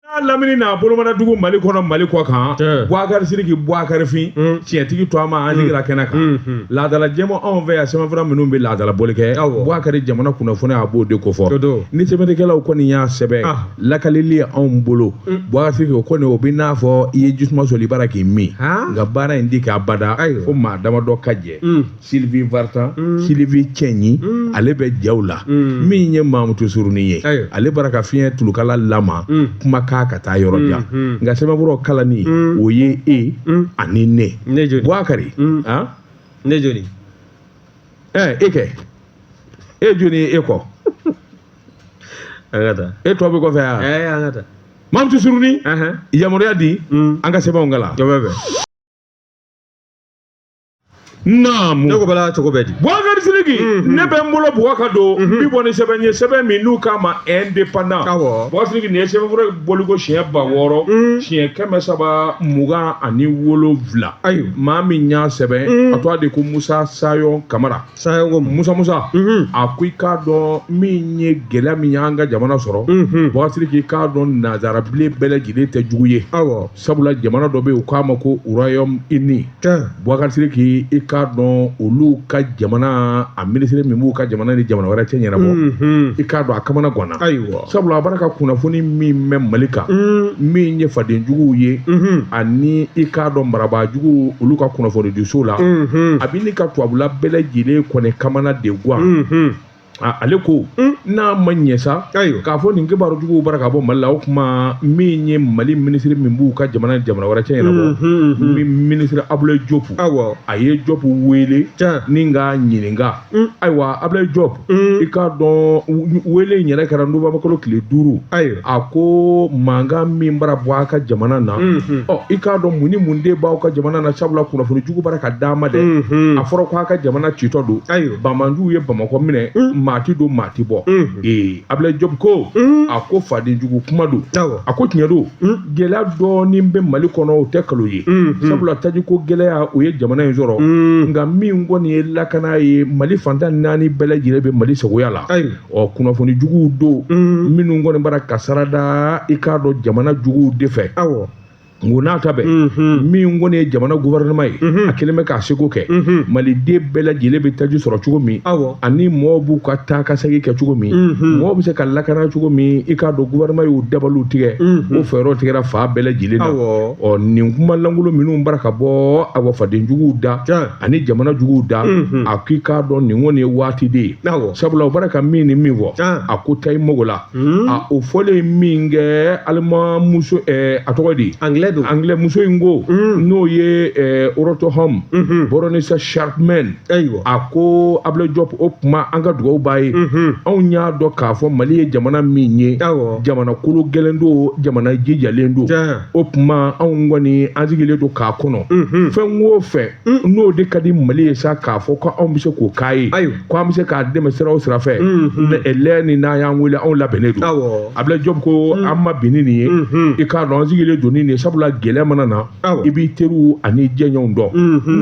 n'a lamini n'a bolomana dugu mali kɔnɔ mali kɔ kan buwakari siriki buwakari fin mm. tiɲɛtigi tɔɔma an sigira mm. kɛnɛ kan mm, mm. laadala jɛmɔ anw fɛ yan sɛbɛnfura minnu bɛ laadala bɔli kɛ buwakari jamana kunnafoni a b'o de kofɔ ni sɛbɛnnikɛlaw kɔni y'a sɛbɛn ah. lakalili ye anw bolo buwakari siriki o kɔni o bɛ n'a fɔ i ye jisuma soli bara k'i min nka baara in tɛ kɛ abada fo maa damadɔ ka jɛ Sylvie Vartan, mm. Sylvie Cɛnyi, mm. ale bɛ jaw la. Mm. Min ye Mamutu Suruni ye. Ayo. Ale bara ka fiɲɛ tulukala lama mm. kuma k'a ka taa yɔrɔ jan. Mm. Mm. Nka sɛbɛnfura kalanni mm. o ye e mm. ani ne. Ne jɔni. Buakari. Mm. Hein? Ne jɔni. Eh, e kɛ. E jɔni ye e kɔ. An ka taa. E tɔ bɛ kɔfɛ yan. Eh, an ka taa. Mamutu Suruni. Uh -huh. Yamaruya di. Mm. An ka sɛbɛnw kalan. Jɔbɛ bɛ. naamu ne ko bala cogo bɛ di bubakari sidiki mhm. ne bɛ n bolo bugɔ ka don mhm. n bi bɔ ni sɛbɛn ye sɛbɛn min n'u k'a ma indépendant awɔ bubakari sidiki nin ye sɛbɛnfura bɔliko siɲɛ ba wɔɔrɔ mhm. siɲɛ kɛmɛ saba mugan ani wolonwula ayi maa min y'a sɛbɛn a tɔgɔ de ko musa sayɔn kamara sayɔn ko musa musa a ko i k'a dɔn min ye gɛlɛya min y'an ka jamana sɔrɔ bubakari sidiki i k'a dɔn nanzara bilen bɛɛ lajɛlen tɛ jugu ye awɔ sabula jamana dɔ bɛ yen u k'a ma ko royaume uni buwakari siriki i k'a dɔn olu ka jamana a minisiri min b'u ka jamana ni jamana wɛrɛ cɛ ɲɛnabɔ i k'a dɔn a kamana ganna sabula a bara ka kunnafoni min mɛn mali kan min ye fadenjuguw ye ani i k'a dɔn marabaajugu olu ka kunnafonidiso la a bɛ ɲini ka tubabula bɛɛ lajɛlen kɔni kamana de gan ale ko n'a ma ɲɛ sa k'a fɔ nin kibaru juguw bara ka bɔ mali la o tuma min ye mali minisiri min b'u ka jamana jamana wɛrɛ cɛ ɲɛnabɔ minisiri abulayi jɔp ayiwa a ye jɔp wele ni k'a ɲininka ayiwa abulayi jɔp i k'a dɔn wele in yɛrɛ kɛra nowanburukalo tile duuru ayiwa a ko mankan min bara bɔ a ka jamana na i k'a dɔn mun ni mun de b'aw ka jamana na sabula kunnafoni jugu bara ka d'a ma dɛ a fɔra ko' a ka jamana citɔ don banbaanciw ye bamakɔ minɛ maa ti don maa ti bɔ ee abulayi jɔp ko a ko fadenjugu kuma don a ko tiɲɛ don gɛlɛya dɔɔnin bɛ mali kɔnɔ o tɛ kalon ye sabula taji ko gɛlɛya o ye jamana in sɔrɔ nka min kɔni ye lakana ye mali fan tan ni naani bɛɛ lajɛlen bɛ mali sagoya la ɔ kunnafoni juguw don minnu kɔni bara ka sarada i k'a dɔn jamana juguw de fɛ awɔ nko n'a ta bɛn min kɔni ye jamana gouvernement ye a kelen bɛ k'a seko kɛ maliden bɛɛ lajɛlen bɛ taji sɔrɔ cogo min awɔ ani mɔɔw b'u ka taakasegin kɛ cogo min mɔɔw bɛ se ka lakana cogo min i k'a dɔn gouvernement y'o dabaliw tigɛ o fɛɛrɛw tigɛra fan bɛɛ lajɛlen na Awɔ. ɔ nin kuma lankolon minnu bara ka bɔ awɔ faden juguw da Tiɲɛ. ani jamana juguw da a k'i k'a dɔn nin kɔni ye waati de ye sabula u bara ka min ni min fɔ a ko ta i mago la a o fɔlen min kɛ alima muso a tɔgɔ di angilɛ muso in ko n'o ye rt hon baroness chapman ayiwa a ko abdoulaye diop o tuma an ka dugawu b'a ye anw y'a dɔn k'a fɔ mali ye jamana min ye jamana kologɛlɛn don jamana jijalen don o tuma anw kɔni an sigilen don k'a kɔnɔ fɛn wo fɛ n'o de ka di mali ye sa k'a fɔ ko anw bɛ se k'o k'a ye ko an bɛ se k'a dɛmɛ sira o sira fɛ lɛ ni n'a y'an wele anw labɛnnen don abdoulaye diop ko an ma bin ni nin ye i k'a dɔn an sigilen don nin sabula gɛlɛya mana na i b'i teri ani jɛɲɔgɔnw dɔn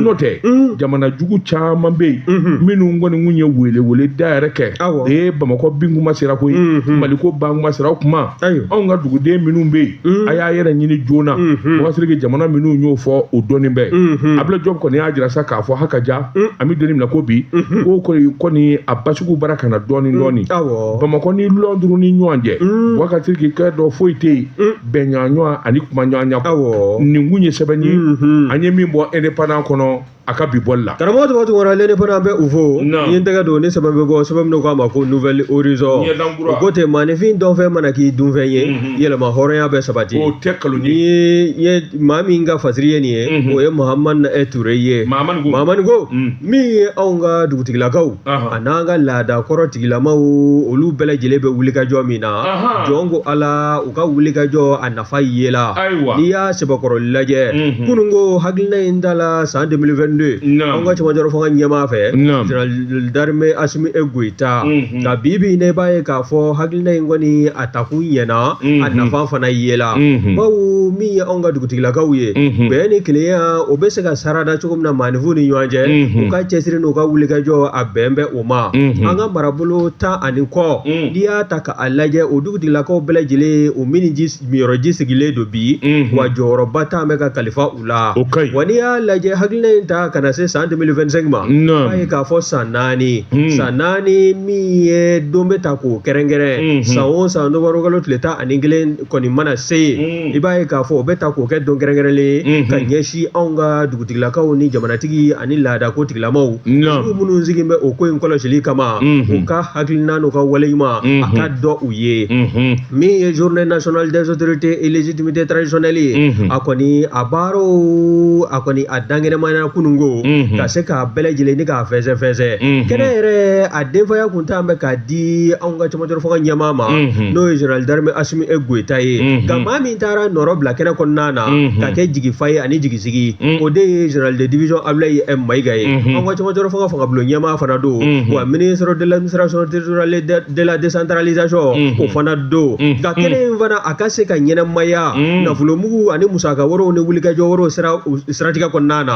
n'o tɛ jamana jugu caman bɛ yen minnu kɔni kun ye weleweleda yɛrɛ kɛ ee bamakɔ bin kuma sera koyi mali ko ban kuma sera o tuma anw ka duguden minnu bɛ yen a y'a yɛrɛ ɲini joona boubacar sidiki jamana minnu y'o fɔ o dɔnnen bɛ abdoulaye diop kɔni y'a jira sa k'a fɔ haka ja an bɛ doni minɛ ko bi ko kɔni a basigi bara ka na dɔɔni dɔɔni bamakɔ ni lɔnduru ni ɲɔgɔn cɛ boubacar sidiki kɛ dɔ foyi tɛ yen bɛnɲɔgɔn ani kumaɲɔgɔnya nin kun ye sɛbɛn ye an ye min bɔ indépendant kɔnɔ a ka bi bɔli la karamɔgɔ tɔgɔ tun wɔɔrɔ ne fana bɛ u fo n ye tɛgɛ don ne sɛbɛn bɛ bɔ sɛbɛn min k'a ma ko nouvel horizon o ko ten maaninfin dɔnfɛn mana k'i dunfɛn ye mhm. yɛlɛma hɔrɔnya bɛ sabati o tɛ nkalon nin ye maa min ka fasiri ye nin ye mhm. o ye mahamani e ture ye mahamani ko mhm. min ye anw ka dugutigilakaw a n'an ka laada kɔrɔ tigilamaw olu bɛɛ lajɛlen bɛ wulikajɔ min na jɔn ko ala u ka wulikajɔ a fa yela ayiwa n'i y'a sɛbɛkɔrɔ lajɛ kunun ko hakilila in tala san 2022 an ka cɛmancɛrɔ fanga ɲɛmaa fɛ général d'armée asimi e goyita nka bi bi ne b'a ye k'a fɔ hakilila in kɔni a takun ɲɛna a nafa fana yela bawo min ye anw ka dugutigilakaw ye bɛn ni kelenya o bɛ se ka sarada cogo min na maaninfin ni ɲɔgɔn cɛ u ka cɛsiri n'u ka wulikajɔ a bɛn bɛ o ma an ka marabolo tan ani kɔ n'i y'a ta k'a lajɛ o tigilakaw bɛɛ lajɛlen o min yɔrɔji sigilen don bi wa jɔyɔrɔba talen bɛ ka kalifa u la wa n'i y'a lajɛ hakilina in ta ka na se san 2025 ma b'a ye k'a fɔ san naani san naani min ye don bɛ ta k'o kɛrɛnkɛrɛn san o san nowanburu kalo tile tan ani kelen kɔni mana se yen i b'a ye k'a fɔ o bɛ ta k'o kɛ don kɛrɛnkɛrɛnnen ka ɲɛsin anw ka dugu tigilakaw ni jamanatigi ani laadako tigilamaw minnu sigilen bɛ o ko in kɔlɔsi kama u ka hakilina n'u ka waleɲuman a ka dɔn u ye min ye journée nationale des autorités et légitimités traditionnelles ye a kɔni a baaraw a kɔni a dankɛnɛmaya kunun ko ka se k'a bɛɛ lajɛlen ni k'a fɛsɛfɛsɛ kɛnɛ yɛrɛ a denfaya tun talen bɛ ka di anw ka cɛmancɛ fanga ɲɛmaa ma n'o ye général d'armée asimi goyita ye nka maa min taara nɔrɔ bila kɛnɛ kɔnɔna na ka kɛ jigifa ye ani jigin sigi o de ye general de division ablaye mayiga ye an ka cɛmancɛ fanga fangabulon ɲɛmaa fana don wa ministre de l'administration territoriale de la décentralisation o fana don nka kɛnɛ in fana a ka se ka ɲɛnɛmaya nafolomugu ani musaka wɛrɛw ni wulikajɔw siratigɛ kɔnɔna na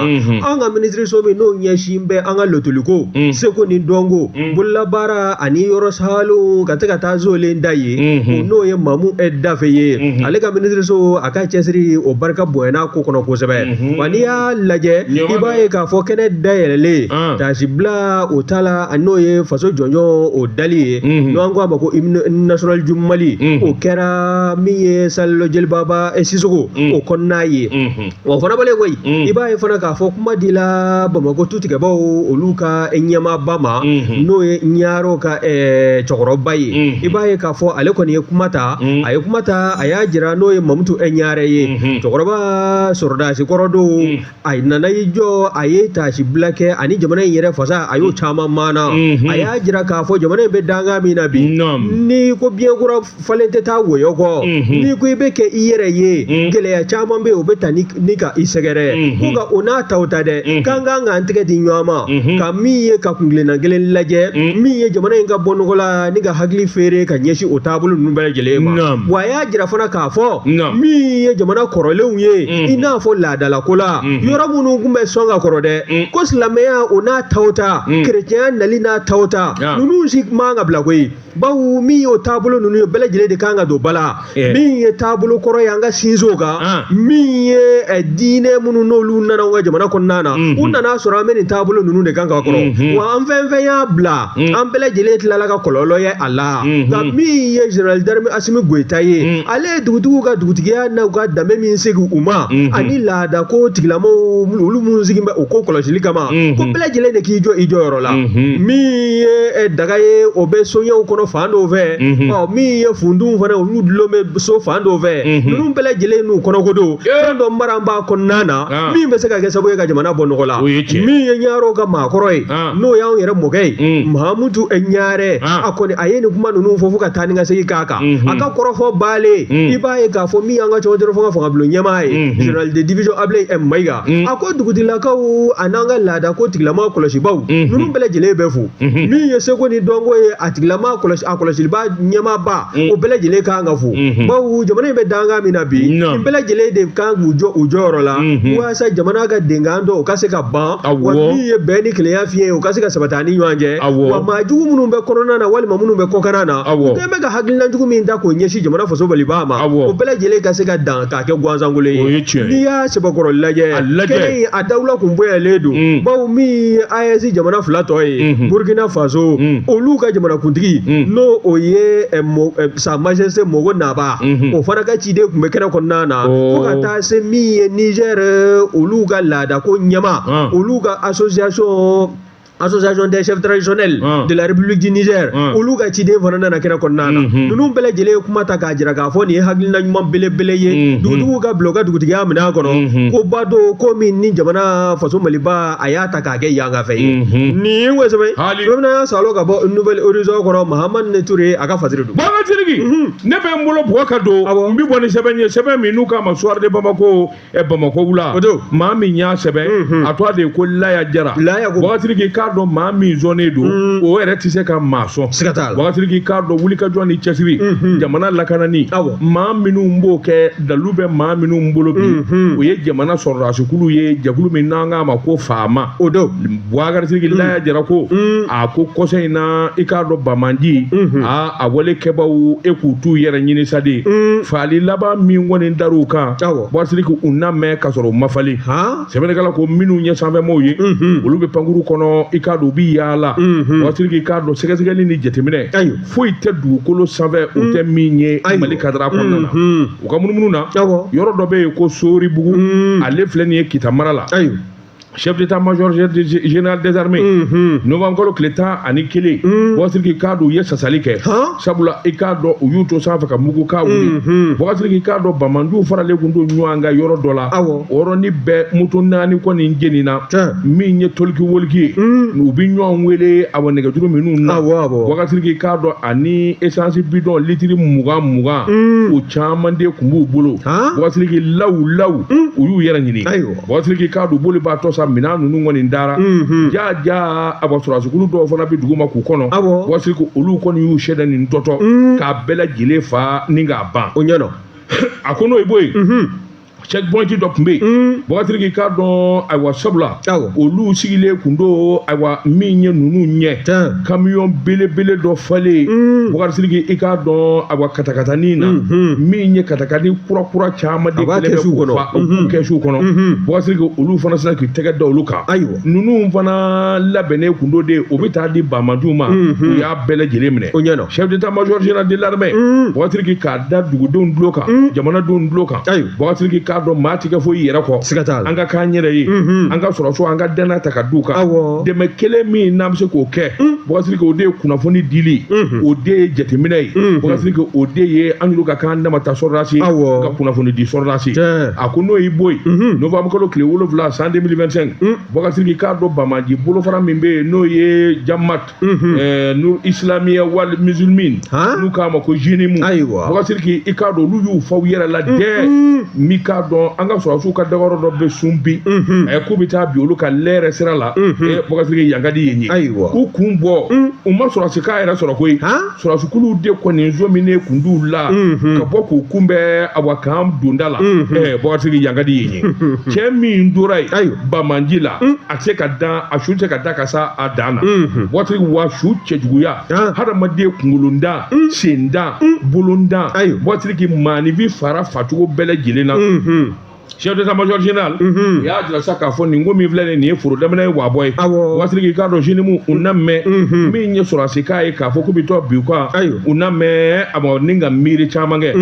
an ka minisiriso min n'o ɲɛsin bɛ an ka lotɔliko seko ni dɔnko bololabaara ani yɔrɔ sa ka tɛ ka taa solen da ye n'o ye mamu dafe ye ale ka minisiriso a ka cɛsiri o barika bɔy ko kɔnɔ kosɛbɛ wa n'i y'a lajɛ i b'a ye k'a fɔ kɛnɛ dayɛlɛlen tasibila o tala a n'o ye faso jɔnjɔn o dali ye n'an ko a ma ko hymne national du mali o kɛra min ye salle jelibaba sisoko o kɔnɔna ye wa o fana bannen kɔ i b'a ye fana k'a fɔ kuma dila bamakɔ tutigɛbaw olu ka ɲɛmaaba ma n'o ye ɲarew ka cɛkɔrɔba ye i b'a ye k'a fɔ ale kɔni ye kuma ta a ye kuma ta a y'a jira n'o ye mamutu e ɲa ɲare ye cɛkɔrɔba sɔrɔdasi kɔrɔ don a nana i jɔ a ye tasibila kɛ ani jamana in yɛrɛ fasa a y'o caman maana a y'a jira k'a fɔ jamana in bɛ dankan min na bi n'i ko biyɛn kura falen tɛ taa wɔyɔ kɔ n'i ko i bɛ kɛ i yɛrɛ ye gɛlɛya caman bɛ yen o bɛ taa ni ka i sɛgɛrɛ ko nka o n'a ta ta dɛ k'an kan k'an tɛgɛ di ɲɔgɔn ma ka min ye ka kuntilenna kelen lajɛ min ye jamana in ka bɔ nɔgɔ la ni ka hakili feere ka ɲɛsin o taabolo ninnu bɛɛ lajɛlen ma y'a jira fana k'a fɔ min ye jamana kɔrɔlenw ye mm-hmm. i n'a fɔ laadalako la mm-hmm. yɔrɔ minnu tun bɛ sɔn ka kɔrɔ dɛ mm. ko silamɛya o n'a ta o ta mm. kerecɛnya nali n'a ta o ta ninnu si man ka bila koyi bawo min y'o taabolo ninnu ye bɛɛ lajɛlen de kan ka don ba la eh. min ye taabolo kɔrɔ ye an ka sinsin o kan ah. min ye eh, diinɛ minnu n'olu nana an ka jamana kɔnɔna na mm-hmm. u nana sɔrɔ an bɛ nin taabolo ninnu de kan ka kɔrɔ wa an fɛn fɛn y'a bila Mm. an bɛɛ lajɛlen tilala ka kɔlɔlɔ ye a la mm-hmm. nka min ye general d'armée asimi goyita ye mm. ale ye dugutigiw ka dugutigiya n'u ka danbe min segin u ma mm-hmm. ani laada ko tigilamɔgɔw olu minnu sigin bɛ o ko kɔlɔsili kama mm-hmm. ko bɛɛ lajɛlen de k'i jɔ i jɔyɔrɔ la min ye eh, daga ye o bɛ soɲɛw kɔnɔ fan dɔw fɛ ɔ min ye funduw fana olu dulon bɛ so fan dɔw fɛ ninnu bɛɛ lajɛlen n'u kɔnɔko don fɛn dɔ mara b'a kɔnɔna na ah. min bɛ se ka kɛ sababu ye ka jamana bɔ nɔgɔ la min ye ɲarew ka maakɔrɔ ye ah. n'o y'anw yɛrɛ mɔkɛ ye mamutu ɲare a kɔni a ye nin kuma ninnu fɔ fo ka taa ni ka segin k'a kan a ka kɔrɔfɔ bannen i b'a ye k'a fɔ min y'an ka cɛmancɛ fanga fangabulon ɲɛmaa ye general de division ablaye m mayiga a ko dugutigilakaw an'an ka laada ko tigilama kɔlɔsibaaw ninnu bɛɛ lajɛlen bɛ fo min ye seko ni dɔnko ye a tigilama kɔlɔsi a kɔlɔsiliba ɲɛmaaba o bɛɛ lajɛlen kan ka fo bawo jamana in bɛ dankan min na bi nin bɛɛ lajɛlen de kan k'u jɔ u jɔyɔrɔ la walasa jamana ka denkan dɔn o ka se ka ban wa min ye bɛn ni kelenya fiɲɛ ye o ka se ka sabati an ni ɲɔgɔn cɛ wa maa jugu minnu bɛ kɔnɔna na walima minnu bɛ kɔkan na u kɛlen bɛ ka hakililajugu min ta k'o ɲɛsin jamana faso Maliba ma o bɛɛ lajɛlen ka se ka dan k'a kɛ gansankolo ye n'i y'a sɛbɛkɔrɔ lajɛ lajɛ a dawula tun bɔlen don mm. bawo min ye AES jamana fila tɔ ye mm-hmm. Burukina Faso mm. olu ka jamanakuntigi mm. n'o o ye eh, eh, Sa Majesté Mogho Naba mm-hmm. o fana ka ciden tun bɛ kɛnɛ kɔnɔna na oh. se min ye Niger olu ka laadako ɲɛmaa olu ka association association des chefs traditionnels de la république du Niger olu ka ciden fana nana kɛnɛ kɔnɔna na ninnu bɛɛ lajɛlen ye kuma ta k'a jira k'a fɔ nin ye hakilina ɲuman belebele ye dugutigiw ka bila u ka dugutigiya minɛn kɔnɔ koba don ko min ni jamana faso Maliba a y'a ta k'a kɛ yan ka fɛ ye nin ye kosɛbɛ Burama y'a salon ka bɔ Nouvel Horizon kɔnɔ Mahamane Ture a ka fasiri don. ne bɛ n bolo bugɔ ka don n bɛ bɔ ni sɛbɛn ye sɛbɛn min n'u k'a ma Soir de Bamako ɛ Bamako wula maa min y'a sɛbɛn a tɔgɔ de ye ko Laya Jara Buakari Siriki k'a dɔn maa min zɔnnen don o yɛrɛ tɛ se ka maa sɔn Buakari Siriki k'a dɔn wulikajɔ ni cɛsiri jamana lakanani maa minnu b'o kɛ dalu bɛ maa minnu bolo bi o ye jamana sɔrɔdasikulu ye jɛkulu min n'an k'a ma ko FAMa o don Buakari Siriki Laya Jara ko a ko kɔsa in na i k'a dɔn banbaanciya wale kɛbaw e k'u t'u yɛrɛ ɲini sa dɛ faali laban min kɔni dara u kan Buakari Siriki u na mɛn ka sɔrɔ u ma falen sɛbɛnnikɛla ko minnu ye sanfɛmaaw ye olu bɛ pankurun kɔnɔ i k'a dɔn u bɛ yaala Buakari Siriki i k'a dɔn sɛgɛsɛgɛli ni jateminɛ foyi tɛ dugukolo sanfɛ u tɛ min ye Mali kadara kɔnɔna na u ka munumunu na yɔrɔ dɔ bɛ yen ko Soribugu ale filɛ nin ye Kita mara la chef d'état major général des armées novembre kalo tile tan ani kelen Buakari Siriki k'a dɔn u ye sasali kɛ sabula i k'a dɔn u y'u to sanfɛ ka mugukan wuli Buakari Siriki k'a dɔn banbaanciw faralen kun don ɲɔgɔn kan yɔrɔ dɔ la o yɔrɔnin bɛɛ moto naani kɔni jenina min ye talkie-walkie ye u bɛ ɲɔgɔn wele a nɛgɛjuru minnu na Buakari Siriki k'a dɔn ani essence bidɔn litiri mugan mugan o caman de kun b'u bolo Buakari Siriki lawu lawu u y'u yɛrɛ ɲini Buakari Siriki k'a dɔn bolibaatɔ sa minɛn ninnu kɔni dara jaa ja a sɔrɔdasikulu dɔw fana bɛ dugu ma k'u kɔnɔ Buakari Siriki olu kɔni y'u se da nin dɔtɔ k'a bɛɛ lajɛlen faa ni k'a ban o ɲɛna a ko n'o i bɔ yen checkpoint dɔ kun bɛ yen Buakari Siriki k'a dɔn ayiwa sabula olu sigilen kun don ayiwa min ye ninnu ɲɛ tan kamiyɔn belebele dɔ falen mm. Buakari Siriki i k'a dɔn ayiwa katakatani na mm-hmm. min ye katakani kurakura caman de kɛlen bɛ k'u fa u mm-hmm. kɛsuw kɔnɔ mm-hmm. Buakari Siriki olu fana sera k'u tɛgɛ da olu kan ayiwa ninnu fana labɛnnen kun don dɛ o bɛ taa di banbaanciw ma u y'a bɛɛ lajɛlen minɛ o ɲɛna chef d'état major général de l'armée mm. Buakari Siriki k'a da dugudenw tulo kan jamanadenw tulo kan Bubakar Sidiki k'a dɔn maa tɛ kɛ foyi y'i yɛrɛ kɔ siga t'a la an ka k'an yɛrɛ ye an ka sɔrɔsiw an ka dannaya ta ka d'u kan dɛmɛ kelen min n'an bɛ se k'o kɛ Bubakar Sidiki o de ye kunnafoni dili o de ye jateminɛ ye Bubakar Sidiki o de ye an yɛrɛw ka k'an dama ta sɔrɔdasi ka kunnafoni di sɔrɔdasi a ko n'o y'i bɔ yen nowanburukalo tile wolonwula san 2025 Bubakar Sidiki k'a dɔn banbaanci bolofara min bɛ yen n'o ye jama ɛɛ Nur Isilamiya wal Musulimin Han? n'u k'a ma ko zenimu Ayiwa. Bubakar Sidiki i k'a dɔn olu y'u fa u yɛrɛ la dɛ n'i k'a dɔn an ka sɔrɔsiw ka dagayɔrɔ dɔ bɛ Sunpi ɛɛ k'u bɛ taa bin olu kan Lere sira la ɛɛ Bubakar Sidiki yan ka di yen ye Ayiwa. u kun bɔ u ma sɔrɔsikan yɛrɛ sɔrɔ koyi Han? sɔrɔsikuluw de kɔni sɔminen kun d'u la ka bɔ k'u kunbɛn a kan donda la Bubakar Sidiki yan ka di yen ye cɛ min tora yen banbaanci la a tɛ se ka dan a su tɛ se ka dan ka sa a dan na Bubakar Sidiki wa su cɛjuguya hadamaden kunkolo dan sen dan bolo dan Bubakar Sidiki maaninfin fara facogo bɛɛ lajɛlen na chef d'état-major général u y'a jira sa k'a fɔ nin ko min filɛ nin ye foro daminɛ ye wabɔ ye Bubakar Sidiki k'a dɔn zenimu u na mɛn min ye sɔrɔsikan ye k'a fɔ k'u bɛ taa bin u kan u na mɛn a ma ni ka miiri caman kɛ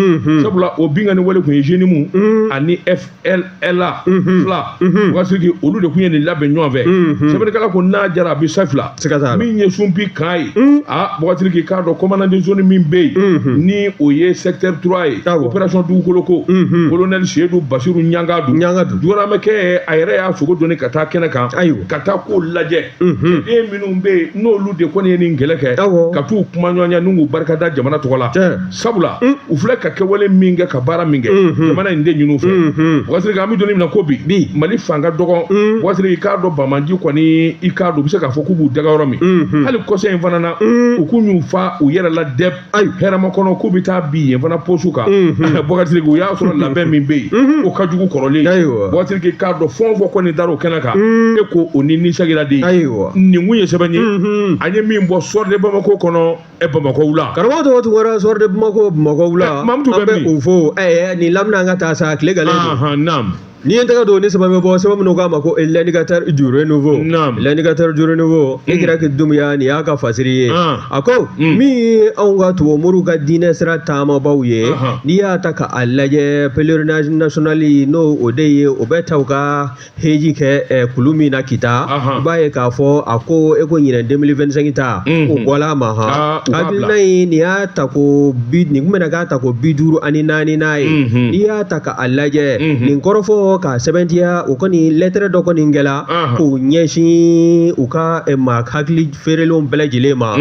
sabula o binkanni wale tun ye zenimu ani FLA fila Bubakar Sidiki olu de tun ye nin labɛn ɲɔgɔn fɛ sɛbɛnnikɛla ko n'a jara a bɛ sa fila se ka taa min ye sunpi kan ye a Bubakar Sidiki k'a dɔn commandant de zone min bɛ yen ni o ye secteur trois ye opération Dugukoloko colonel seyidu basiru Ɲangadu jogoramɛkɛ a yɛrɛ y'a sogo doni ka taa kɛnɛ kan ayiwa ka taa k'o lajɛ den minnu bɛ yen n'olu de kɔni ye nin kɛlɛ kɛ ka taa u kumaɲɔgɔnya n'u barikada jamana tɔgɔ la sabula u filɛ ka kɛwale min kɛ ka baara min kɛ jamana in de ɲin'u fɛ Bubakar Sidiki an bɛ don min na ko bi Mali fan ka dɔgɔ Bubakar Sidiki i k'a dɔn banbaanci kɔni i k'a dɔn u bɛ se k'a fɔ k'u b'u daga yɔrɔ min hali kɔsa in fana na u k'u y'u fa u yɛrɛ la dɛ ayi Hɛrɛmakɔnɔ k'u bɛ taa bin yen fana posu kan Bubakar Sidiki u y'a sɔrɔ labɛn min bɛ yen o ka jugu kɔrɔlen ye Bubakar Sidiki k'a dɔn fɛn o fɛn kɔni dar'o kɛnɛ kan e ko o ni nisagiraden ayi nin kun ye sɛbɛn ye an ye min bɔ Soir de bamakɔ kɔnɔ ɛ bamakɔ wula karamɔgɔ tɔgɔ tun kɛra Soir de bamakɔ bamakɔ wula Eh, Mamutu bɛ an bɛ min? o fo ɛɛ nin lamina an ka taa sa tile galen don ahan naam n'i ye n tɛgɛ don nin sɛbɛn bɔ sɛbɛn n'u k'a ma ko l'Indicateur du Renouveau Naam. l'Indicateur du Renouveau i kira ki dumuya nin y'a ka fasiri ye Ah. a ko Mm. min ye anw ka tubabu moriw ka diinɛ sira taamabaw ye Ahan. n'i y'a ta k'a lajɛ pèlerinage national n'o o de ye o bɛ taa u ka hiji kɛ eh, kulu min na kita i b'a ye k'a fɔ a ko e ko ɲinan 2025 ta o bɔla a ma han hakilina in nin y'a tako bi nin kun bɛna k'a tako bi duuru ani naaninan ye n'i y'a ta ka a lajɛ nin kɔrɔfɔ k'a sɛmɛntiya o kɔni lɛtɛrɛ dɔ kɔni kɛla k'o ɲɛsin u ka eh, ma hakili feerelenw bɛɛ lajɛlen ma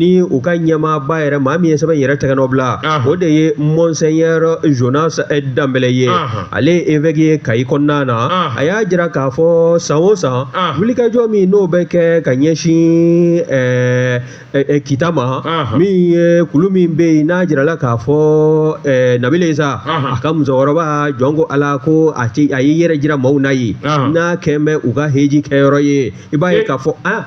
ni u ka ɲɛmaaba yɛrɛ maa min ye sɛbɛn yɛrɛ tɛgɛnɔbila o de ye monseigneur jonas danbɛlɛ ye ale ye évêque ye kayi kɔnɔna na a y'a jira k'a fɔ san o san wulikajɔ min n'o bɛ kɛ ka ɲɛsin kita ma min ye kulu min bɛ yen n'a jirala k'a fɔ nabila isa a ka musokɔrɔba jɔn ko ala ko a a y'i yɛrɛ jira maaw na yen n'a kɛlen bɛ u ka heji kɛyɔrɔ ye i b'a ye k'a fɔ a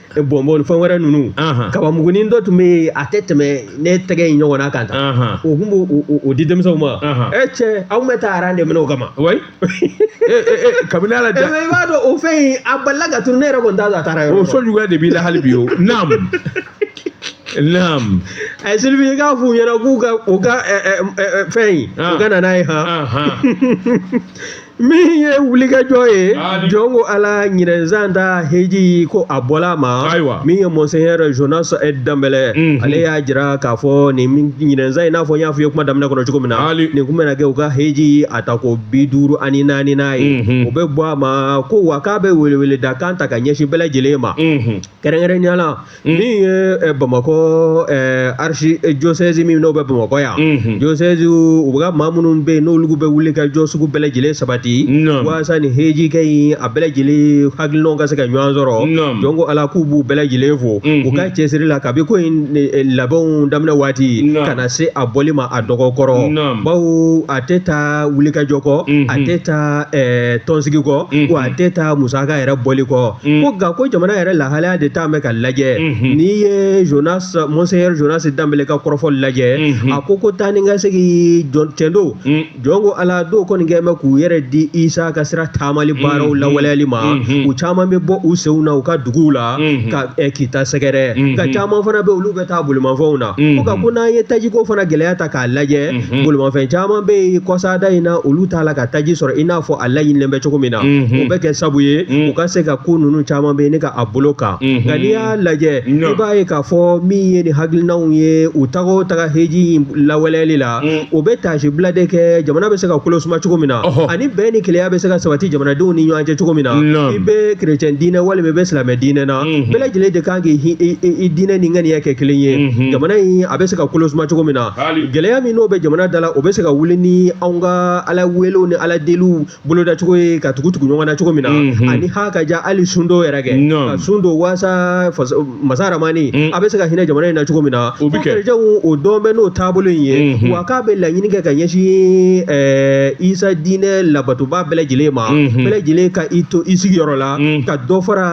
bɔnbɔn fɛn wɛrɛ ninnu kabamugunin dɔ tun bɛ yen a tɛ tɛmɛ ne tɛgɛ in ɲɔgɔn na kan taa o tun b' o di denmisɛnw ma e cɛ aw bɛ taa aran de minɛ o kama kabini ala i b'a dɔn o fɛn yen a balila ka turu ne yɛrɛ ko n da taara yɔrɔ o sɔnjuguya de b'i la hali bi o naamu ayi sylvie k'a f'u ɲɛna k'u ka u ka fɛn in u ka na n'a ye han min ye wulikajɔ ye jɔn ko ala ɲinɛn san ta heji ko a bɔla ma min ye monseigneur jonas danbɛlɛ mhm. ale y'a jira k'a fɔ nin ɲinɛn san in n'a fɔ n y'a fɔ i ye kuma daminɛ kɔnɔ cogo min na nin kun bɛna kɛ u ka heji a taako bi duuru ani naaninan ye mhm. o bɛ bɔ a ma ko wa k'a bɛ weleweleda kan ta ka ɲɛsin bɛɛ lajɛlen ma mhm. kɛrɛnkɛrɛnnenya la min ye eh, bamakɔ eh, archidiocèse min n'o bɛ bamakɔ yan mhm. diocèse u ka maa minnu bɛ yen n'olu bɛ wulikajɔ sugu bɛɛ lajɛlen sabati waasa ni hejikɛ in a bɛɛ lajɛlen hakilinaw ka se ka ɲɔgɔn sɔrɔ jɔn ko ala k'u b'u bɛɛ lajɛlen fo mhm. u ka cɛsiri la kabi ko in labɛnw daminɛ waati ka na se a bɔli ma a dɔgɔ kɔrɔ bawo a tɛ taa wulikajɔ kɔ a mhm. tɛ taa tɔnsigi kɔ wa a tɛ taa musaka yɛrɛ bɔli kɔ ko nka ko jamana yɛrɛ lahalaya de talen bɛ ka lajɛ n'i ye jonas monseigneur jonas danbɛlɛ ka kɔrɔfɔ lajɛ a ko ko taa ni ka segin cɛn don jɔn ko ala dɔw kɔni kɛlen bɛ k'u yɛrɛ di isa ka sira taamali baaraw lawaleyali ma u caman bɛ bɔ u senw na u ka duguw la ka kita sɛgɛrɛ nka caman fana bɛ olu bɛ taa bolimafɛnw na ko nka ko n'an ye tajiko fana gɛlɛya ta k'a lajɛ Unhun. Bolimafɛn caman bɛ yen kɔsada in na olu t'a la ka taji sɔrɔ i n'a fɔ a laɲinilen bɛ cogo min na Unhun. o bɛ kɛ sabu ye Mm. u ka se ka ko ninnu caman bɛ yen ne ka a bolo kan Unhun. nka n'i y'a lajɛ Non. i b'a ye k'a fɔ min ye nin hakilinaw ye u taga o taga heji in lawaleyali la Mm. o bɛ taasibila de kɛ jamana bɛ se ka kolo suma cogo min na Ɔhɔ. ani bɛn ni kelenya bɛ se ka sabati jamanadenw ni ɲɔgɔn cɛ cogo min na Non. i bɛ kerecɛn diinɛ walima i bɛ silamɛ diinɛ na Unhun. bɛɛ lajɛlen de kan k'i hi- i- i- i diinɛ ni ŋaniya kɛ kelen ye Mhm. jamana in a bɛ se ka kolo suma cogo min na gɛlɛya min n'o bɛ jamana da la o bɛ se ka wuli ni anw ka ala welew ni ala deliw bolodacogo ye ka tugu tugu ɲɔgɔn na cogo min na ani ha ka ja hali sun dɔw yɛrɛ kɛ ka sun don waasa masa ramani a bɛ se ka hinɛ jamana in na cogo min na o bɛjaw o dɔn bɛ n'o taabolo in ye wa k'a bɛ laɲini kɛ ka ɲɛsin isa diinɛ labatobaa bɛɛ lajɛlen ma bɛɛ lajɛlen ka i to i sigiyɔrɔ la ka dɔ fara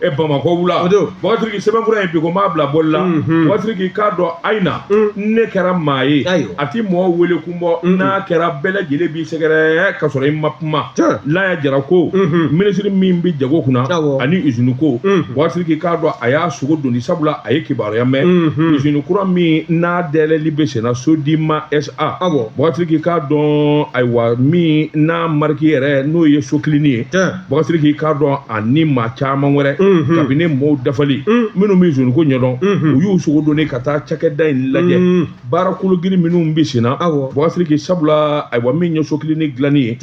e bamakɔ wula bogasiriki sɛbɛnfura in bi kuma bila boli la mhm. bogasiriki i k'a dɔn ayina mm. ne kɛra maa ye a ti mɔgɔ wele kun bɔ mm-hmm. n'a kɛra bɛɛ lajɛlen b'i sɛgɛrɛ ka sɔrɔ i ma kuma laya jara ko mm-hmm. minisiri min bi jago kunna ani izini ko mm-hmm. bogasiriki i k'a dɔn a y'a sogo doni sabula a ye kibaruya mɛn izini kura min n'a dɛlɛli bɛ senna sodima sa bogasiriki i k'a dɔn ayiwa min n'a mariki yɛrɛ n'o ye so kilini ye Bogasiriki i k'a dɔn a ni maa caman wɛrɛ kabinɛ mɔgɔw dafalen minnu bɛ izini ko ɲɛdɔn u y'u sogo don ka taa cakɛda in lajɛ baara kologirin minnu bɛ senna bogasiriki sabula ayiwa min ye so kilini dilanni ye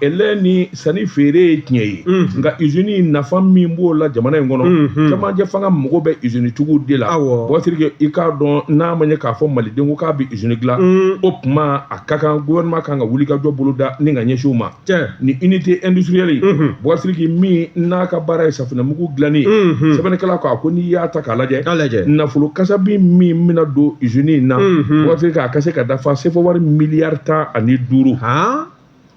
ale ni sanni feere ye tiɲɛ ye nka izini nafa min b'o la jamana in kɔnɔ cɛmancɛ fanga mako bɛ izinitigiw de la bogasiriki i k'a dɔn n'a ma ɲɛ k'a fɔ maliden ko k'a bɛ izini dila o tuma a ka kan gouvernement kan ka wulikajɔ boloda ni ka ɲɛsin u ma cɛ ni unité industrielle ye Mhm. bogasiriki min n'a ka baara ye safinɛmugu dilanni ye Mhm. sɛbɛnnikɛla ko a ko n'i y'a ta k'a lajɛ nafolo kasabi min bɛna don usine in na Mhm. bogasiriki a ka se ka dafa sefo wari miliyari tan ani duuru han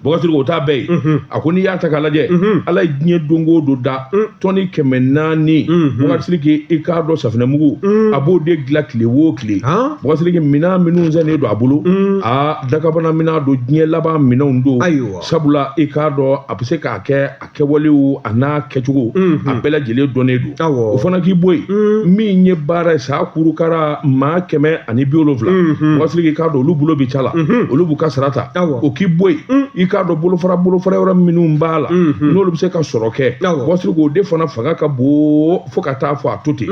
bogasiriki o t'a bɛɛ ye Mhm. a ko n'i y'a ta k'a lajɛ Mhm. ala ye diɲɛ don o don da Mm. tɔni kɛmɛ naani Mhm. bogasiriki i k'a dɔn safinɛmugu Mm. a b'o de dilan tile o tile han bogasiriki minɛn minnu sɛnnen don a bolo Mm. a dakabana minɛn don diɲɛ laban minɛnw don ayiwa sabula i k'a dɔn a bɛ se k'a kɛ a kɛwalew a n'a kɛcogo a bɛɛ lajɛlen dɔnnen don awɔ o fana k'i bɔ yen min ye baara ye sa kurukara maa kɛmɛ ani bi wolonwula bogasiriki i k'a dɔn olu bolo bɛ ca la olu b'u ka sara ta Awɔ. o k'i bɔ yen i k'a dɔn bolofara bolofara yɔrɔ minnu b'a la n'olu bɛ se ka sɔrɔ kɛ Awɔ. bogasiriki o de fana fanga ka bon fo ka taa fɔ a to ten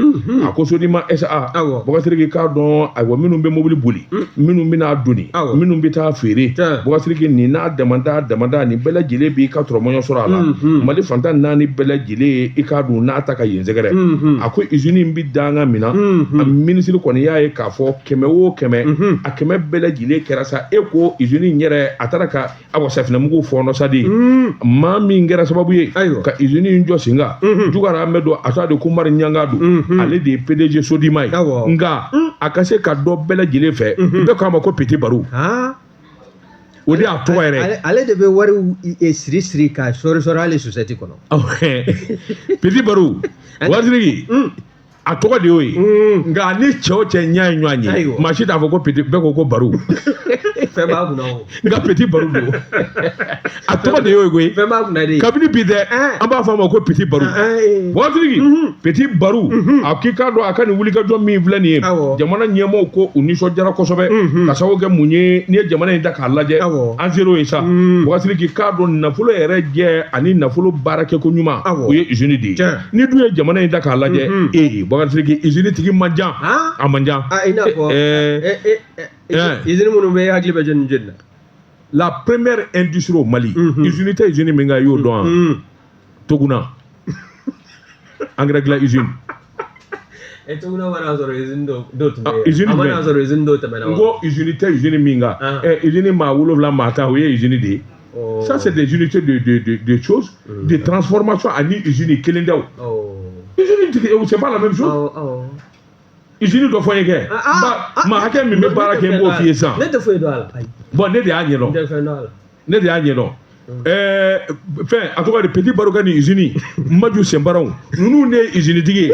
a ko sodima sa Awɔ. bogasiriki i k'a dɔn ayiwa minnu bɛ mobili boli minnu bɛna doni minnu bɛ taa feere bogasiriki nin n'a damada damada nin bɛɛ lajɛlen b'i ka tɔrɔmɔɲɔ sɔrɔ a la mali fan tan ni naani bɛɛ lajɛlen i k'a dɔn n'a ta ka yen sɛgɛrɛ a ko izini in bɛ danga min na a minisiri kɔni y'a ye k'a fɔ kɛmɛ o kɛmɛ a kɛmɛ bɛɛ lajɛlen kɛra sa e ko izini in yɛrɛ a taara ka awa safinɛmugu fɔɔnɔsadi maa min kɛra sababu ye ka izini in jɔ sen kan jɔgɔramɛ don a tɔgɔ de ko umaru ɲangadu ale de ye pdg sodima ye nka a ka se ka dɔn bɛɛ lajɛlen fɛ bɛɛ k'a ma ko petit barou o de y'a tɔgɔ yɛrɛ ale de bɛ wari e, siri siri ka sɔri sɔri hali sosɛti kɔnɔ petit barou bogasiriki a tɔgɔ de y'o ye mm. nka ni cɛ o cɛ ɲɛ ye ɲɔgɔn ye maa si t'a fɔ ko petit bɛɛ ko ko barou fɛn b'a kunna o nka petit barou don a tɔgɔ de y'o ye koyi fɛn b'a kunna de kabini bi dɛ eh. an b'a fɔ a ma ko petit barou bogasiriki eh, eh. mhm. petit barou mhm. a k'i k'a dɔn a ka nin wulikajɔ min filɛ nin ye jamana ɲɛmɔgɔw ko u nisɔndiyara kosɛbɛ mhm. ka sababu kɛ mun ye n'i ye jamana in ta k'a lajɛ an ser'o ye sa mm. bogasiriki i k'a dɔn nafolo yɛrɛ jɛ ani nafolo baarakɛko ɲuman o ye usine de ye ni dun ye jamana in ta k'a lajɛ ee bakarijansi izini tigi man ca a man ca i n'a fɔ izini minnu bɛ hakili bɛ jɔni jɔni na la première industrie au Mali izini tɛ izini min kan i y'o dɔn wa Toguna angɛrɛ dilan izini E Toguna ma n'a sɔrɔ izini dɔw tun bɛ yen izini a ma n'a sɔrɔ izini dɔw tɛmɛna wa n ko izini tɛ izini min kan izini maa wolonwula maa tan o ye izini de ye ça c'est des unités de, de, de, de choses, mm. de transformation a ni usine kelen tɛ. Oh. Usine tigi, eh, c'est pas la même chose. Oh, oh. Usine dɔ fɔ n ye kɛ. Ah, ah, ah. Maa hakɛ min bɛ baara kɛ n b'o f'i ye sisan. Ne tɛ foyi dɔn a la. Bon ne de y'a ɲɛdɔn. Ne tɛ foyi dɔn a la. Ne de y'a ɲɛdɔn. Ɛɛ mm. fɛn en tout cas de Petit Barou ka nin usine Manju Sinparaw ninnu de ye usine tigi ye.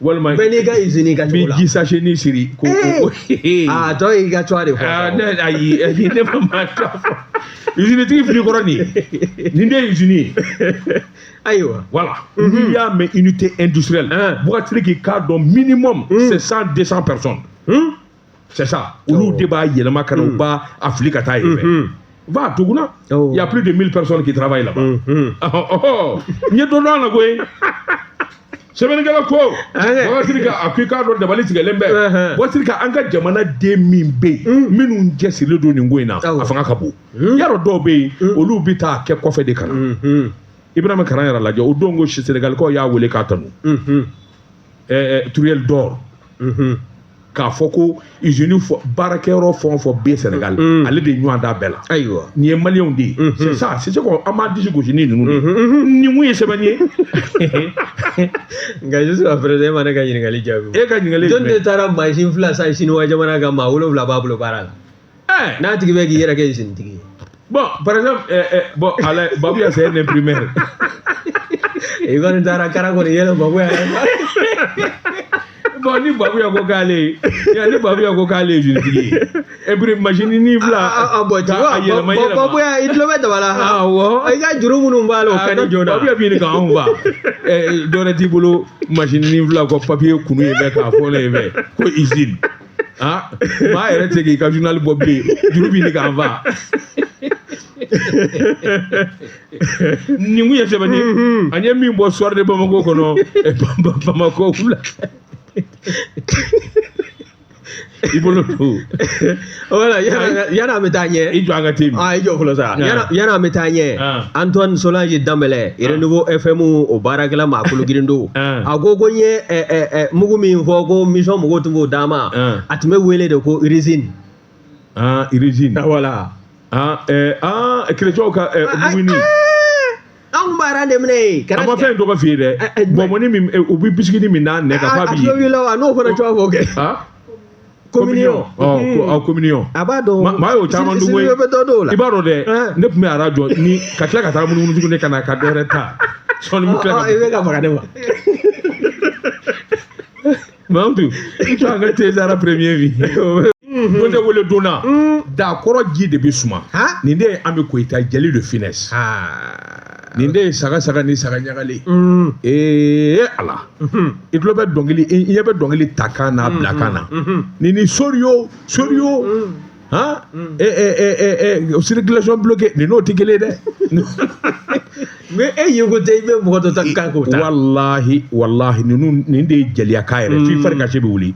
walima bɛɛ n'i ka izini ka cogo la bɛ ji sachet nin siri ko a tɔ y'i ka cogoya de fɔ ne ayi ayi ne ma maa ta fɔ izini tigi fili kɔrɔ nin ye nin de ye izini ye ayiwa voilà n'i y'a mɛn unité industrielle bugatiri k'i k'a dɔn minimum c'est cent deux cent personnes c'est ça olu de b'a yɛlɛma ka na u b'a a fili ka taa yen fɛ va à Toguna il y a plus de 1000 personnes qui travaillent là-bas n ye dɔ dɔn a la koyi sɛbɛnnikɛla ko wasiri ka a ko i k'a dɔn dabali tigɛlen bɛ wasiri ka an ka jamana den min bɛ yen minnu cɛsirilen don nin ko in na a fanga ka bon yan rɔ dɔw bɛ yen olu bɛ taa kɛ kɔfɛ de ka na Ibrahima Karaɲara lajɛ o don ko senegalikaw y'a wele k'a tanu Truelle d'or k'a fɔ ko izini baarakɛyɔrɔ fɛn o fɛn bɛ Senegal mm. ale de ɲuman don a bɛɛ la ayiwa nin ye maliyɛnw de ye mm-hmm. c'est ça c'est ce qu'on an b'an disi gosi ni ninnu de ye mm-hmm. nin mun ye sɛbɛnni ye nka jusqu'à présent e ma ne ka ɲininkali jaabi e ka ɲininkali jumɛn jɔni de taara mansin fila san siniwa jamana kan maa wolonwula b'a bolo baara la ɛɛ n'a tigi bɛ k'i yɛrɛ kɛ izini tigi ye bon par exemple ɛɛ ɛɛ bon ala Babuya c'est un imprimeur i kɔni taara kara kɔni yɛlɛ Babuya bon ni Babuya ko k'ale ye ya ni Babuya ko k'ale ye izini tigi ye et puis masini ni fila a bon ti a yɛlɛma yɛlɛma Babuya i tulo bɛ daba la han awɔ i ka juru minnu b'a la o ka di joona Babuya bɛ ɲini k'anw fa ɛɛ dɔwɛrɛ t'i bolo masini ni fila kɔ papiye kunu ye bɛ k'a fɔ ne ye bɛɛ ko izini aa maa yɛrɛ tɛ k'i ka journal bɔ bilen juru bɛ ɲini k'an fa nin kun ye sɛbɛnni ye an ye min bɔ soir de bamako kɔnɔ eh, Ba- Ba- bamako wula i bolo don voilà yann'an bɛ taa ɲɛ i jɔ an ka te min aa i jɔ fɔlɔ sa Ah. yan'a- yann'an bɛ taa ɲɛ Ah. antoine solange danbɛlɛ renouveau fm o baarakɛla maa kologirin don a ko ko n ye mugu min fɔ ko mission mɔgɔw tun b'o d'a ma a tun bɛ wele de ko résine résine voilà kerecɛw ka muguni anw b'a ran de minɛ yen a ma fɛn tɔgɔ f'i ye dɛ bɔnbɔnni min u bɛ bisikini min n'a nɛ ka f'a b'i ye a tulo b'i la wa n'o fana cogoya fɔ kɛ communion ɔ communion a b'a dɔn maa y'o caman dun koyi bɛ dɔ dɔw la i b'a dɔn dɛ ne tun bɛ aran jɔ ni ka tila ka taa munumunu tuguni ka na ka dɔ wɛrɛ ta sɔɔni bɛ tila ka i bɛ ka faga ne ma mamutu i jɔ an ka te sara premier bi ko ne wele donna daa kɔrɔ ji de bɛ suma nin de ye an bɛ koyita jeli de finesse nin de ye saga saga ni saga ɲagalen ee ala i tulo bɛ dɔnkili i ɲɛ bɛ dɔnkili ta kan na bila kan na nin ni soriyo soriyo han circulation bloquée nin n'o tɛ kelen ye dɛ mais e ye ko tɛ i bɛ mɔgɔ dɔ ta kan k'o ta walahi walahi ninnu nin de ye jeliyakan yɛrɛ f'i fari kan si bɛ wuli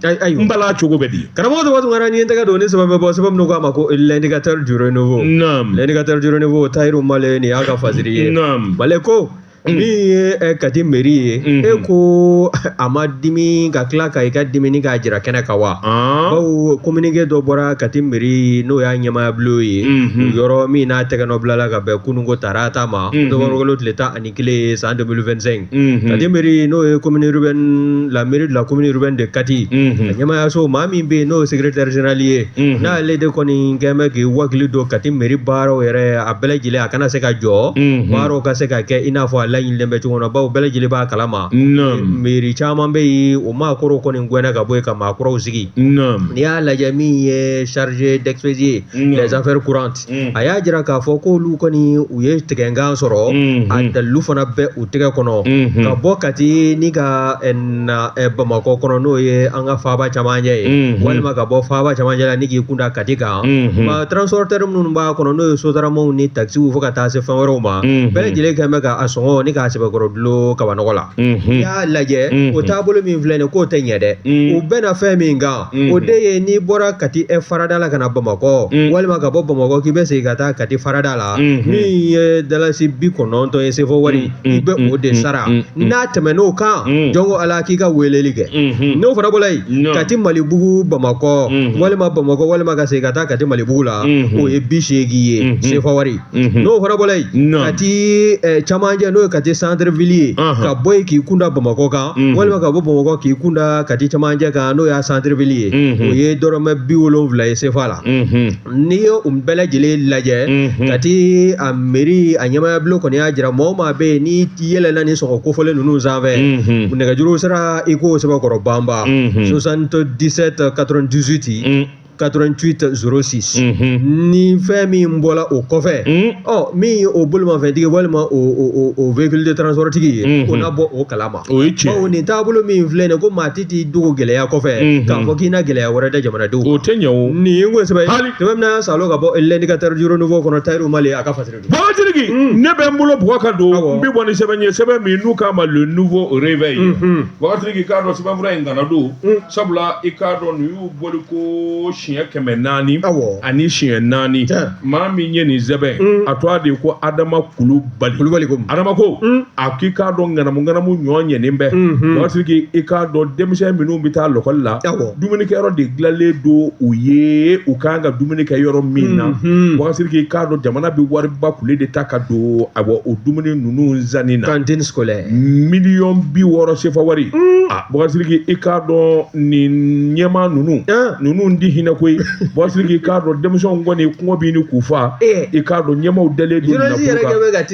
n bala cogo bɛ di karamɔgɔ tɔgɔ tun kɛra ɲɛ tɛgɛ don ni sɛbɛn bɛ bɔ sɛbɛn minnu k'a ma ko l'indicateur du renouveau Naam. l'indicateur du renouveau tayiru male nin y'a ka fasiri ye Naam. male ko min ye eh, kati meri ye Mhm. e ko a ma dimi ka tila ka i ka dimini k'a jira kɛnɛ kan wa Ah. bawo kominike dɔ bɔra kati meri n'o y'a ɲɛmaaya bulon ye Mhm. yɔrɔ min n'a tɛgɛnɔ bilala ka bɛn kununko tarata ma Mhm. nowanburukalo tile tan ani kelen san deux mille vingt-cinq kati meri n'o ye commune urbaine la mairie de la commune urbaine de kati a ɲɛmaayaso maa min bɛ yen n'o ye secrétaire général ye n'ale de kɔni kɛ bɛ k'i wakili don kati meri baaraw yɛrɛ a bɛɛ lajɛlen a kana se ka jɔ baaraw ka se ka kɛ i n'a fɔ a laɲininen bɛ cogo na bawo bɛɛ lajɛlen b'a kalama meri caman bɛ yen o maa kɔrɔw kɔni gɛnna ka bɔ yen ka maa kuraw sigi n'i y'a lajɛ min ye chargé d'expédier les affaires courantes a y'a jira k'a fɔ k'olu kɔni u ye tigɛnkan sɔrɔ a dalilu fana bɛ u tɛgɛ kɔnɔ ka bɔ kati ni ka na bamakɔ kɔnɔ n'o ye an ka faaba camancɛ ye walima ka bɔ faaba camancɛ la ni k'i kunda kati kan nka transporoteri minnu b'a kɔnɔ n'o ye sotaramaw ni takisiw fo ka taa se fɛn wɛrɛw ma bɛɛ lajɛlen kɛ bɛ k'a sɔngɔ nin k'a sɛbɛkɔrɔ dulon kabanɔgɔ la n'i y'a lajɛ o taabolo min filɛ nin k'o tɛ ɲɛ dɛ u bɛnna fɛn min kan o de ye n'i bɔra kati farada la ka na bamakɔ walima ka bɔ bamakɔ k'i bɛ segin ka taa kati farada la min ye dalasi bi kɔnɔntɔn ye sefɔ wari i bɛ o de sara n'a tɛmɛn'o kan jɔn ko ala k'i ka weleli kɛ n'o fana bɔla yen kati malibugu bamakɔ walima bamakɔ walima ka segin ka taa kati malibugu la o ye bi seegin ye sefɔ wari n'o fana bɔra yen Kati camancɛ n'o ye Kati centre ville ye ka bɔ yen k'i kunda bamakɔ kan walima ka bɔ bamakɔ k'i kunda Kati camancɛ kan n'o y'a centre ville ye o ye dɔrɔmɛ bi wolonwula ye sefa la n'i ye u bɛɛ lajɛlen lajɛ Kati a mairie a ɲɛmaaya bulon kɔni y'a jira maa o maa bɛ yen n'i yɛlɛnna ni sɔngɔ kofɔlen ninnu sanfɛ nɛgɛjuru sira i k'o sɛbɛkɔrɔ banba 77 98 88 06 ni fɛn min bɔra o kɔfɛ ɔ min ye o bolimafɛntigi walima o véhicule de transport tigi ye o na bɔ o kalama o ye tiɲɛ ye bawo nin taabolo min filɛ nin ye ko maa t'i dogo gɛlɛya kɔfɛ k'a fɔ k'i na gɛlɛya wɛrɛ da jamanadenw o tɛ ɲɛ o nin ye n ko sɛbɛ ye tuma min na an y'a salo ka bɔ l'indicateur du Renouveau kɔnɔ Tayiru Male a ka fasiri Bɔsiriki ne bɛ n bolo bugu ka don n bɛ bɔ ni sɛbɛn ye sɛbɛn min n'u k'a ma le Nouveau Réveil Bɔsiriki k'a dɔn sɛbɛnfura in ŋana don sabula i k'a dɔn nin y'u bɔli ko siɲɛ kɛmɛ naani ani siɲɛ naani maa min ye nin sɛbɛn a tɔgɔ de ko Adama Kulubali Adama ko a k'i k'a dɔn ŋanamu ŋanamu ɲɔ ɲɛnen bɛ Bɔsiriki i k'a dɔn denmisɛn minnu bɛ taa lɔkɔli la dumunikɛyɔrɔ de dilanlen don u ye u kan ka dumuni kɛ yɔrɔ min na Bɔsiriki i k'a dɔn jamana bɛ wariba kule de ta ka don a o dumuni ninnu zanni na cantine scolaire miliyɔn bi wɔɔrɔ sefa wari Bɔsiriki i k'a dɔn nin ɲɛmaa ninnu ninnu ti hinɛ koyi Bɔsiriki k'a dɔn denmisɛnw kɔni kɔngɔ bɛ ɲini k'u faa i k'a dɔn ɲɛmaaw dalen don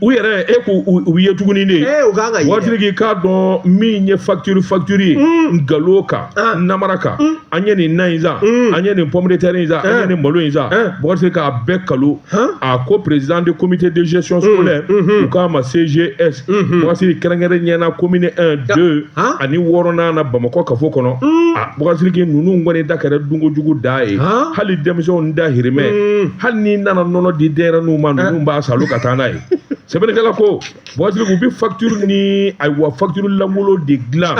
u yɛrɛ e ko u ye tuguni de Bɔsiriki k'a dɔn min ye facture facture ye nkalon kan namara kan an ye nin na in zan an ye nin pomme de terre in san an ye nin malo in zan Bɔsiriki k'a bɛɛ nkalon a ko président de comité de gestion scolaire u k'a ma CGS Bɔsiriki kɛrɛnkɛrɛnnenya na commune 1 2 ani wɔɔrɔnan na bamakɔ kafo kɔnɔ a Bɔsiriki ninnu kɔni da kɛra dunkojugu da ye hali denmisɛnw dahirimɛ hali n'i nana nɔnɔ di denyɛrɛninw ma ninnu b'a salo ka taa n'a ye sɛbɛnnikɛla ko Bɔsiriki u bɛ facture ni ayiwa facture lankolon de dilan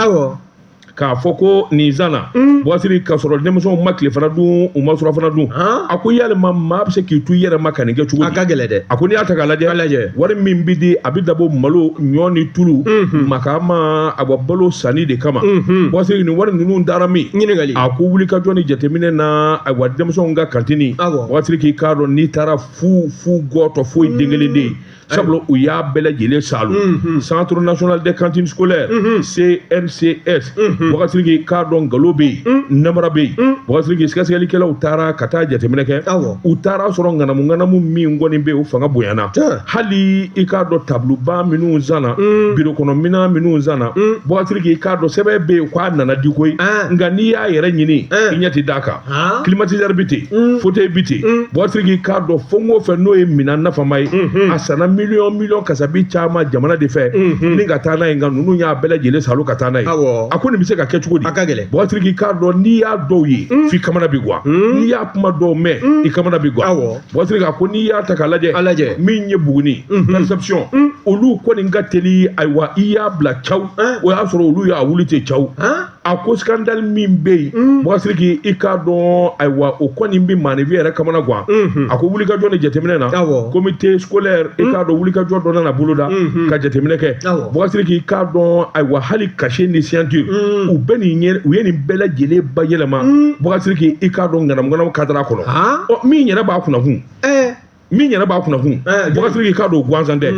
k'a fɔ ko nin zanna Bɔsiriki k'a sɔrɔ denmisɛnw ma tilefana dun u ma surɔfana dun a ko yala maa bɛ se k'i to i yɛrɛ ma ka nin kɛ cogo di a ka gɛlɛn dɛ a ko n'i y'a ta k'a lajɛ wari min bɛ di a bɛ dabɔ malo ɲɔ ni tulu ma ma a bɔ balo sanni de kama Bɔsiriki nin wari ninnu taara min ɲininkali a ko wulikajɔ ni jateminɛ na awa denmisɛnw ka cantine Bɔsiriki k'a dɔn n'i taara fu fu gɔtɔ foyi den kelen tɛ yen sabula u y'a bɛɛ lajɛlen salo centre national de cantine scolaire CNCS Bɔsiriki k'a dɔn nkalon bɛ yen namara bɛ yen Bɔsiriki sɛgɛsɛgɛlikɛlaw taara ka taa jateminɛ kɛ u taara sɔrɔ ŋanamu ŋanamu min kɔni bɛ yen o fanga bonyana hali i k'a dɔn tabuluba minnu sanna biro kɔnɔ minan minnu sanna Bɔsiriki k'a dɔn sɛbɛn bɛ yen k'a nana di koyi nka n'i y'a yɛrɛ ɲini i ɲɛ tɛ d'a kan kilimatizɛri ah. bi ten mm. foteyi bi ten mm. bɔsiriki k'a dɔn fɛn o fɛn n'o ye minan nafama ye mm-hmm. a sanna miliyɔn miliyɔn kasabi caman jamana de fɛ mm-hmm. ni ka taa n'a ye nka ninnu y'a bɛɛ lajɛlen salo ka taa n'a ye a ko nin bɛ se ka kɛ cogo di bɔsiriki k'a dɔn n'i y'a dɔw ye mm. f'i kamana bi gwan n'i y'a kuma dɔw mɛn i kamana bi gwan bɔsiriki a ko n'i y'a ta k'a lajɛ min ye buguni mm-hmm. perception olu kɔni ka teli ayiwa i y'a bila caw eh? o y'a sɔrɔ olu y'a wuli ten caw eh? a ko skandali min bɛ yen mm. bɔsiriki i k'a dɔn ayiwa o kɔni bɛ maaninfin yɛrɛ kamana gan mm-hmm. a ko wulikajɔ ni jateminɛ na comité scolaire i mm. k'a dɔn wulikajɔ dɔ nana boloda mm-hmm. ka jateminɛ kɛ bɔsiriki i k'a dɔn ayiwa hali cachet ni signature mm. u bɛ nin ɲɛ u ye nin bɛɛ lajɛlen bayɛlɛma bɔsiriki i k'a dɔn ŋanamuŋanamu kadara kɔnɔ min yɛrɛ b'a kunnakun eh. min yɛrɛ b'a kunnakun bɔsiriki k'a dɔn gansan tɛ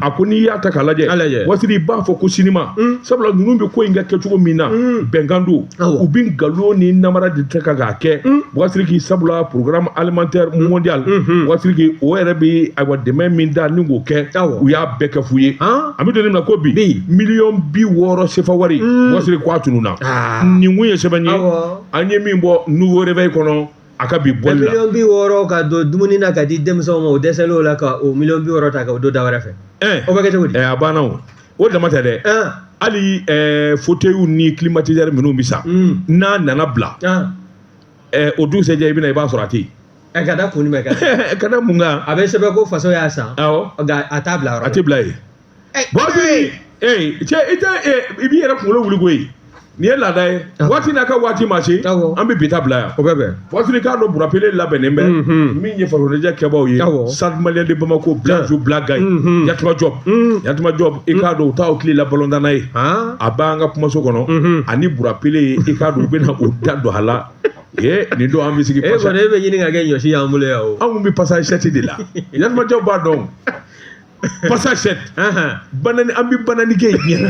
a ko n'i y'a ta k'a lajɛ bɔsiriki b'a fɔ ko sinima sabula ninnu bɛ ko in kɛ kɛcogo min na bɛnkan don u bɛ nkalon ni namara de ta ka k'a kɛ bɔsiriki sabula programme alimentaire mondial bɔsiriki o yɛrɛ bɛ ayiwa dɛmɛ min da ni k'o kɛ u y'a bɛɛ kɛ fu ye an bɛ don min na ko bi miliyɔn bi wɔɔrɔ sefa wari bɔsiriki k'a tununna nin kun ye sɛbɛn ye an ye min bɔ nouveau réveil kɔnɔ a ka bi bɔli la miliyɔn bi wɔɔrɔ ka don dumuni na ka di denmisɛnw ma o dɛsɛlen o la ka o miliyɔn bi wɔɔrɔ ta ka o don da wɛrɛ fɛ o bɛ kɛ cogo di a banna o o dama tɛ dɛ hali foteyiw ni kilimatizɛri minnu bɛ san hmm. n'a nana bila o dugusɛjɛ i bɛ na i b'a sɔrɔ a tɛ yen ɛ ka da kun jumɛn kan ka da mun kan a bɛ sɛbɛn ko faso y'a san awɔ nka a t'a bila yɔrɔ a tɛ bila yen bɔsiriki cɛ i tɛ i b'i yɛrɛ kunkolo wuli koyi nin ye laada ye waati n'a ka waati ma se an bɛ bi ta bila yan o bɛ bɛn bɔsiriki k'a dɔn burapele labɛnnen bɛ min ye farikoloɲɛnajɛ kɛbaaw ye stade malien de bamako blazo blagaye yatuma jɔpu yatuma jɔpu i k'a dɔn u ta tile la balontanna ye a b'an ka kumaso kɔnɔ ani burapele ye i k'a dɔn u bɛna o da don a la ee nin don an bɛ sigi e kɔni e bɛ ɲini ka kɛ ɲɔsi y'an bolo yan o anw bɛ passage sept de la yatuma jɔpu b'a dɔn Passage sept. Banani an bi banani kɛ yen.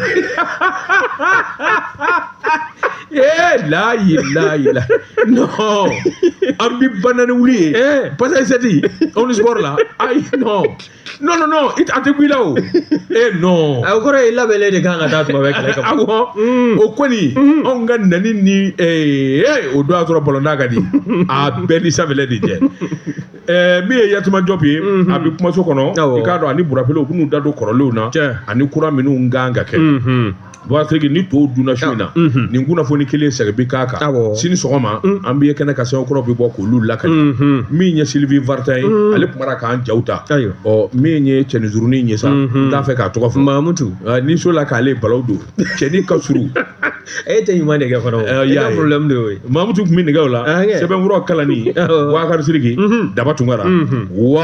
Ee la ilaha. No. An bi banani wuli ye. Eh. Passage sept. On ni sport la. Ayi no. No no no, it ate kuila o. Eh no. A kɔrɔ ye labɛnlen de kan ka taa tuma bɛɛ kɛlɛ kama. Awɔ. Mm. O kɔni mm. anw ka nani ni ee eh, o don a sɔrɔ balontan ka di. A bɛɛ ni sanfɛlɛ de jɛ. Ɛɛ min ye Yatuma Jɔpu ye, unhun, a bɛ kumaso kɔnɔ, awɔ, i k'a dɔn a ni Burapele u bɛn'u da don kɔrɔlenw na, tiɲɛ, ani kura minnu ka kan ka kɛ, unhun, Bɔsiriki ni to dunna su in na, unhun, nin kunnafoni kelen segin bɛ k'a kan, awɔ, sini sɔgɔma an bɛ ye kɛnɛ kan sɛbɛn kuraw bɛ bɔ k'olu lakali, unhun, min ye Sylvie Vartan ye ale tun b'a la k'an jaw ta, ayiwa, ɔ min ye cɛnin surunnin in ye sa n t'a fɛ k'a tɔgɔ fɔ, Mamutu, n'i sɔnna k'ale balawu don cɛnin ka surun e tɛ ɲuman de kɛ fana o i ka problème de y'o ye Mamutu tun bɛ nɛgɛw la sɛbɛnkuraw kalanni Bubakari Sidiki Daba Tunkara wa